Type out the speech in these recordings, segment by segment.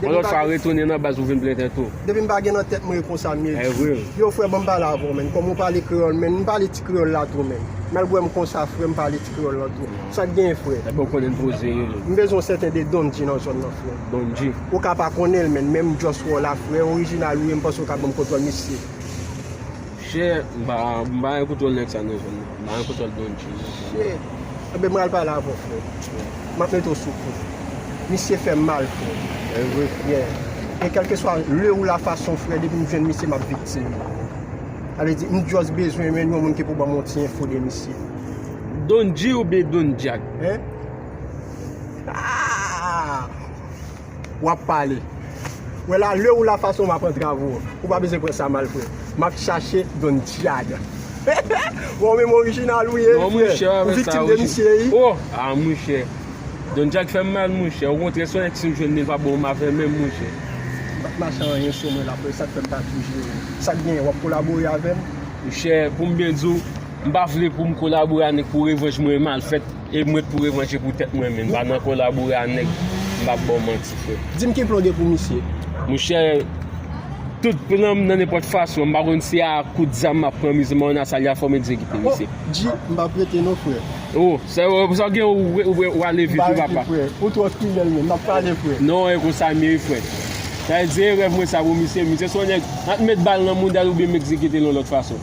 Bon lòt fwa retounen nan baz pou vin plenten tou. Depi m pa gen nan tèt mwen e konsa m ye di. Yow frè banm pale avèw menn kòm ou pale kreyòl menn m pale ti kreyòl la tou menn malgre m konsa frè m pale ti kreyòl lan tou sak genyen frè m bezwen yon sèten de Don G nan zòn nan frè ou ka pa konnenl menn menm m just wè w la frè orijinal ou ye m panse ou ka banm kontwòl misye. Chè m pa m pa gen koutwòl nèg sa nan zòn nan. M pa gen koutwòl Don G nan zòn nan. Chè enben m pral pale avè w frè. M ap mete w sou kou. Misye fè m mal frè. Evre frè. E kèlkeswa le ou la fason frè depi m jwenn misye m ap viktim li. Sa vle di m just bezwen jwenn yon moun ki pou ban m yon ti enfo de misye. Don G oubyen Don Jack? Hein? Aah! wap pale wè la lew la fason wap antrav ou ou pa bezwen pran sa mal frè map chache don djad bon ou menm orijinal ou ye ou viktim de misye wi a monchè don djad fèm mal monchè o kontrè son èks m jwenn li pa bon avèm menm monchè m pat mache anyen sou mwen la frè sak fèm pa toujou wi sak gen wap kolabore avèm monchè poum byen diw m pa vle poum kolabore a nèg pou revanj mwen mal fèt. E mwen t pou revanje pou tèt mwen menm pa nan kolabore a nèg m pap baw manti frè. Dim ki plan w gen pou misye? Monchè tout plan m nan nenpòt fason m pa konn si a kout zam map pran misye men on a sa li a fòm egzekite misye. Oh Dji m pap rete non frè. Oh sa w gen ou ale vit wi papa. M pa rete frè ou twò fidèl menm nap pale frè. Non e konsa m ye wi frè. Sa vle di e rèv mwen sa pou misye misye son nèg an t met bal nan moudal oubyen m egzekite l yon lòt fason.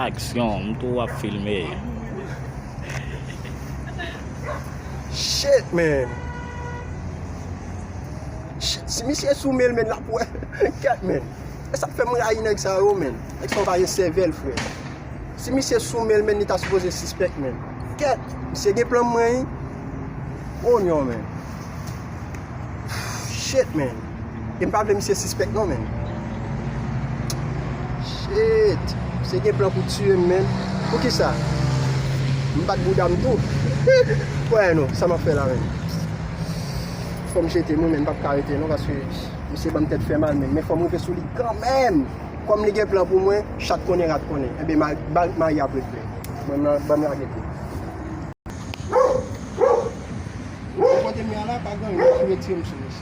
Aksyon, m tou wap filme. Shit man. Shit si misye sou menl menn lap wè ket menn. Esak fem rayi neg sa yo menn. Neg sa yo pa gen sevel fre. Si misye sou menl menn li ta sipoze sispek menn. Ket misye gen plan mwen wi. Oh non menn. Shit man. E pa vle misye sispèk non menn. Shit! Misye gen plan pou tiyem menn. Poukisa? M bat boudam tou. Kwè non, sa map fè la menm. Fòm jete nou menn, m pap ka rete non paske misye banm tèt fè mal menn. Men fòm rive sou li kanmenm. Kòm li gen plan pou mwen, chat konnen rat konnen. Enben ma bal mari ap regle. Banm la, banm lage l tou. Bon kote m ye a la pa gen anyen, m retirem sou misye.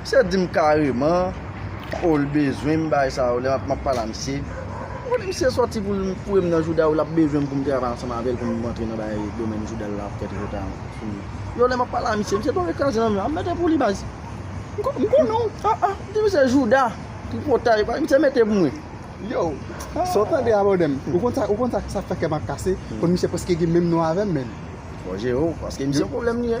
Misye dim kareman oh l bezwenm bay sa yo lè map map pale a misye ou konnen misye sòti pou l fourem nan jouda yo lap bezwenm poum travay ansanm avèl poum rantre nan bay domèn jouda l la ap fè tripotay an sou li yo lè map pale a misye misye tonbe kraze nan men an mete pou li baz m konnen w ah ah m di misye jouda tripotay bay misye mete pou mwen yow ah sa w tande a bòdèm ou konn sa ou konn sa sak fè kèm ap kase konn misye prèske gen menm non avèm menn. Bon jere w paske misye pwoblèm li ye.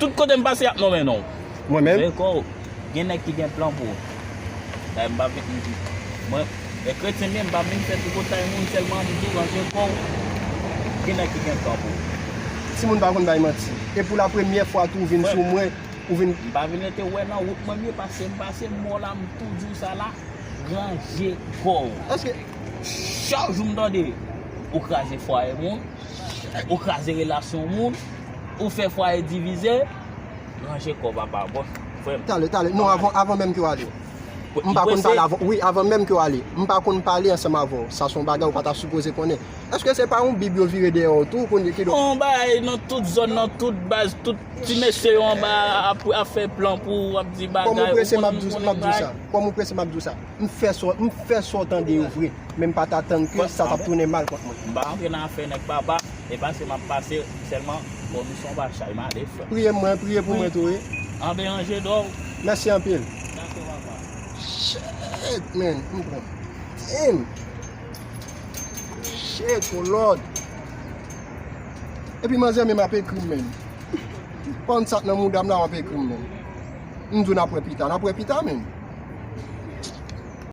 Tout kote m pase y ap nonmen non w. Mwen menm. Reko, gen nèg ki gen plan pou ou. Dayè m pa vle m di. Mwen, e kretyen m ye, m pa vle m fè tripotay moun sèlman m di w range kò w. Gen nèg ki gen plan pou ou. Timoun pa konn bay manti. E pou lapremyè fwa tou ou vin sou mwen, ou vin. M pa vin rete wè nan wout mwen m ye pase m pase m wè w la m tou di w sa la, range kò w. Eske. Chak jou m tande ou kraze fwaye moun, ou kraze relasyon moun. Ou fè fwaye divize, ranje kò papa bon frè m. Tale, tale, non avan menm ke w ale. M pa konn pale avè w. Wi, avan menm ke w ale. M pa konn pale ansanm avè w. Sa se yon bagay ou pa ta sipoze konnen. Eske se pa yon bib yo vire dèyè w tou kounye ki donk. Yon bagay nan tout zòn, nan tout baz, tout ti mesye yo anba a ap fè plan pou ou, ap di bagay, ou konn m konnen bagay. Kòm ou prese m ap di w sa. Kòm ou prese m ap di w sa. M fè sa w, m fè sa w tande yo vre, men m pa t atann ke sa t ap tounen mal kont mwen. M pa rantre nan afè nèg baba, e pase m ap pase sèlman bò Bison pa chay m ale frè m. Priye mwen, priye pou mwen tou wi. An ben anje dò w. Mèsi anpil. Dakò papa. Shit man, m pran damn. Shit oh lord. Epi manzè menm ap ekri m menm. Ki bann sak nan moudam la wap ekrim menm. M di w nap wè pita, nap wè pita menm.